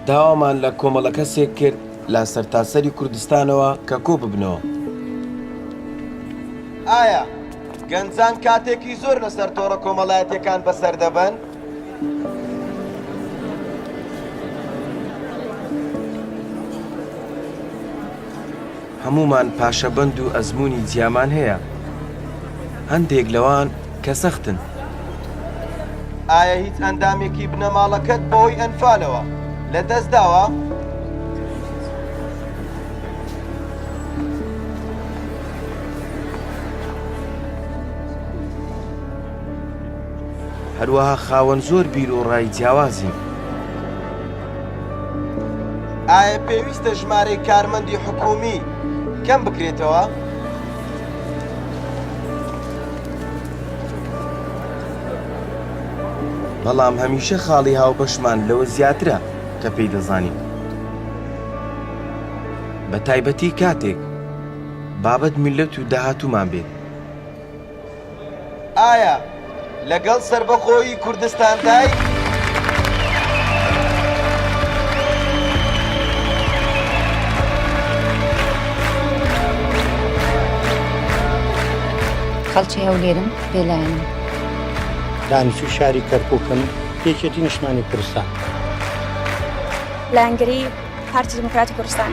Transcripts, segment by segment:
داوامان لە کۆمەڵە کەسێک کرد لا سەرتاسەری کوردستانەوە کە کۆ ببنەوە ئایا گەنجان کاتێکی زۆر لەسەر تۆڕە کۆمەڵایەتەکان بەسەر دەبن؟ هەموومان پاشەبەند و ئەزموونی جیامان هەیە، هەندێک لەوان کە سەختن. ئایا هیچ ئەندامێکی بنەماڵەکەت بەهۆی ئەنفالەوە لەدەستداوە؟ هەروەها خاوەن زۆر بیروڕای جیاوازین. ئایا پێویستە ژمارەی کارمەندی حکومی کەم بکرێتەوە؟ بەڵام هەمیشە خاڵی هاوبەشمان لەوە زیاترە کە پێی دەزانین بە تایبەتی کاتێک بابەت میلەت و داهاتومان بێت. ئایا لەگەڵ سەربەخۆیی کوردستاندای؟ خەڵکی هەولێرم بێلایەنم دانیشتوی شاری کەرکوکم یەکێتی نیشتمانی کوردستان لایەنگری پارتی دیموکراتی کوردستان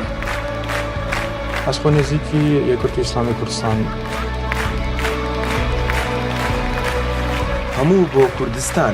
ئەس خۆ نزیکی یەکرتی ئسلامی کوردستان هەموو بۆ کوردستان.